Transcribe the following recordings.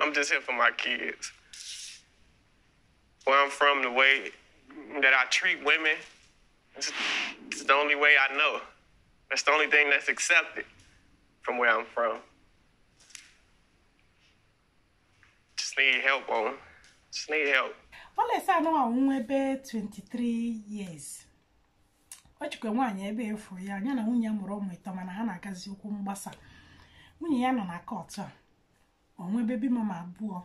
I'm just here for my kids. Where I'm from, the way that I treat women, it's, it's the only way I know. That's the only thing that's accepted from where I'm from. Just need help on. Just need help. Wallace anụnwa ebe 23 years. ọ chịkwa nwaanyị ebe four ya nya na nwunye ya mụrụ ụmụ ịtọ mana ha na-agazi okwu mgbasa nwunye ya nọ na kọtụ a o nwee baby mama abụọ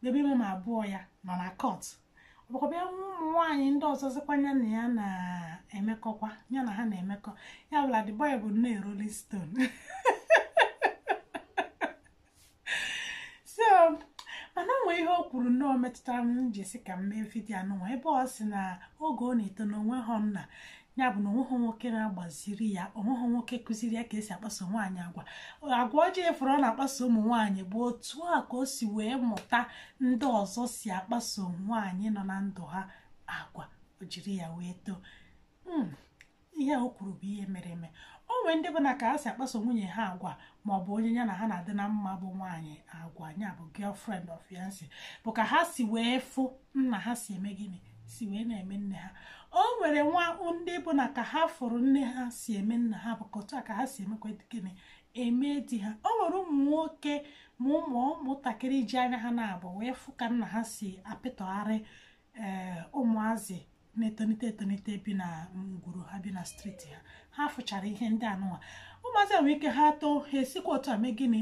baby mama abụọ ya nọ na kọt ọ bụkwa bịa nwee ụmụ nwaanyị ndị ọzọzikwa ya na ya na-emekọkwa ya na ha na-emekọ ya bụ na the boy bụ nnọọ rolling stone so mana o nwee ihe o kwuru na o metụtara m ji sị ka m mee vidio anụnwa ebe ọ sị na oge ọ na-eto na o nwehọ nna ya bụ na o nweghị nwoke na-agbaziri ya o nweghị nwoke kụziri ya ka e si akpaso nwaanyị agwa agwa ọjọọ a fụrụ ọ na-akpaso ụmụ nwaanyị bụ otu a ka o si wee mụta ndị ọzọ si akpaso nwaanyị nọ na ndụ ha agwa o jiri ya wee too hmm, ihe o kwuru bụ ihe mere eme o nwee ndị bụ na ka ha si akpaso nwunye ha agwa ma ọ bụ onye ya na ha na-adị na mma bụ nwaanyị agwa ya bụ girlfriend or fiancé bụ ka ha si wee fụ nna ha si eme gịnị si wee na-eme nne ha o nwere nwa ndị bụ na ka ha fụrụ nne ha si eme nna ha bụ ka otu a ka ha si emekwa gịnị eme di ha o nwere ụmụ nwoke ma ụmụ ụmụntakịrị ji anya ha naabọ wee fụ ka nna ha si apịtọgharị ee eh, ụmụazị na-etonite etonite bi na ngwuru ha bi na street ha ha fụchara ihe ndị anụnwa ụmụazị nwere ike ha too ha esikwa otu a mee gịnị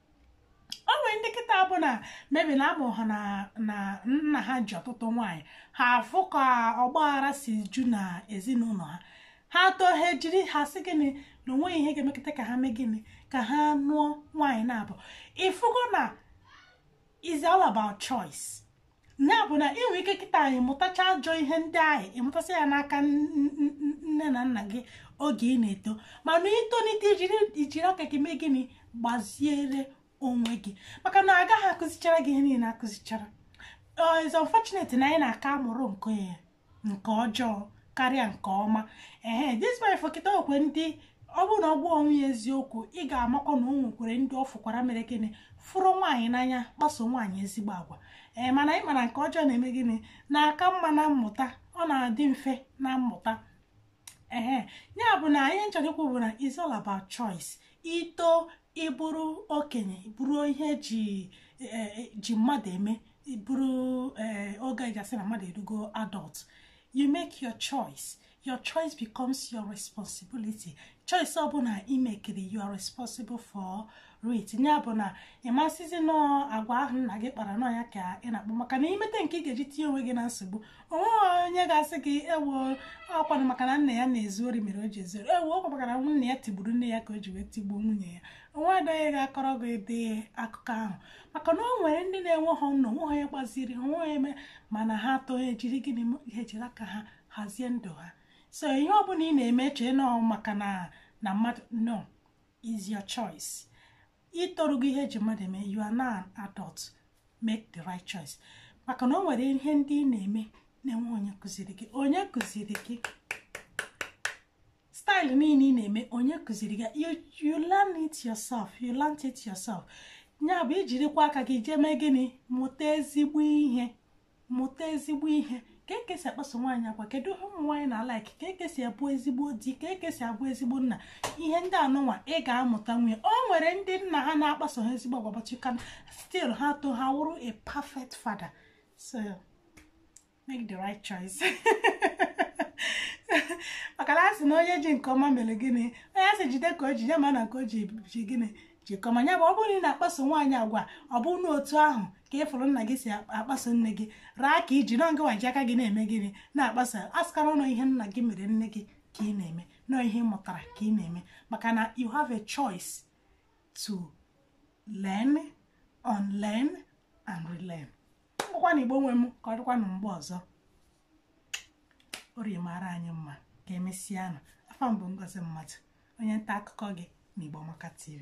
o nwere ndị kịta bụ na maybe na a mụ ha na na nna ha ji ọtụtụ nwaanyị ha afụ ka ọgbaghara si ju na ezinụlọ ha ha too ha ejiri ha sị gịnị na o nweghị ihe ga-emekata ka ha mee gịnị ka ha nụọ nwaanyị naabọ ị fụgo na it's all about choice ya bụ na i nwee ike kịtaa ị mụtacha ajọ ihe ndị ahụ ị mụtasị ya n'aka nne na nna gị oge ị na-eto mana i tonite i jiri aka gị mee gịnị gbaziere onwe gị maka na a gaghị akụzichara gị ihe niile akụzichara it's unfortunate na anyị na-aka amụrụ nke ya nke ọjọọ karịa nke ọma ehe this man a fụ kịta nwekwee ndị ọ bụrụ na ọ gwa onwe ya eziokwu ị ga-amakwa na o nwekwere ndị ọ fụkwara mere gịnị fụrụ nwaanyị n'anya kpaso nwaanyị ezigbo agwa ee mana anyị mara nke ọjọọ na-eme gịnị na-aka mma na mmụta ọ na-adị mfe na mmụta ee ya bụ na ihe m chọrọ ikwu bụ na it's all about choice i to ịbụrụ okenye bụrụ ihe eji e, e, ji mmadụ eme bụrụ e, oge eji asị na mmadụ erugo adult you make your choice your choice becomes your responsibility choice ọbụla imekiri you are responsible for it ya bụ na ị ma sịzi na ọ agwa ahụ nna gị kpara na ọ ya ka ị na-akpa maka na imete nke ị ga-eji tinye onwe gị na nsogbu onweghị onye ga-asị gị ewo ọkwanụ maka na nna ya na-ezu ori mere o ji ezu ori ewo ọkwa maka na nna ya tigburu nne ya ka o ji wee tigbuo nwunye ya o nwedịghị onye ga-akọrọ gị ụdị akụkọ ahụ maka na o nwere ndị na-enwehụ nna o nwehụ onye gbaziri ha onwe eme mana ha to ha ejiri gịnị ha ejiri aka ha hazie ndụ ha so ihe ọ bụla ị na-eme chee na ọ maka na na mmadụ no is your choice itorugo ihe eji mmadụ eme you are now an adult make the right choice maka na o nwere ihe ndị ị na-eme na-enwe onye kụziri gị onye kụziri gị style niile ị na-eme onye kụziri gị you, you learn it yourself you learn it yourself ya bụ ijirikwa aka gị jee mee gịnị mụta ezigbo ihe mụta ezigbo ihe ka eke si akpaso nwaanyị agwa kedu ihe ụmụ nwaanyị na-alike ka eke si abụ ezigbo di ka eke si abụ ezigbo nna ihe ndị anụnwa ị ga-amụtanwu ya o nwere ndị nna ha na-akpaso ha ezigbo agwa but you can still ha to ha wụrụ a perfect father so make the right choice maka na a sị na onye ji nke ọma mere gịnị onye a sị jide ka o ji ya ma na nke o ji ji gịnị ji nke ọma ya bụ ọ bụrụ na ị na-akpaso nwaanyị agwa ọ bụ na otu ahụ ka ị fụrụ nna gị si akpaso nne gị agwa ka i ji no ngịwa ji aka gị na-eme gịnị na-akpa so asịkwala na ọ ihe nna gị mere nne gị ka ị na-eme no ihe ị mụtara ka ị na-eme maka na you have a choice to learn unlearn and relearn ngwakwanụ Igbo nwe m ka ọ dịkwanụ mgbe ọzọ orie mara anyị mma ka emesịanụ afa m bụ Ngozi Mmadụ onye nta akụkọ gị na Igbo Amaka TV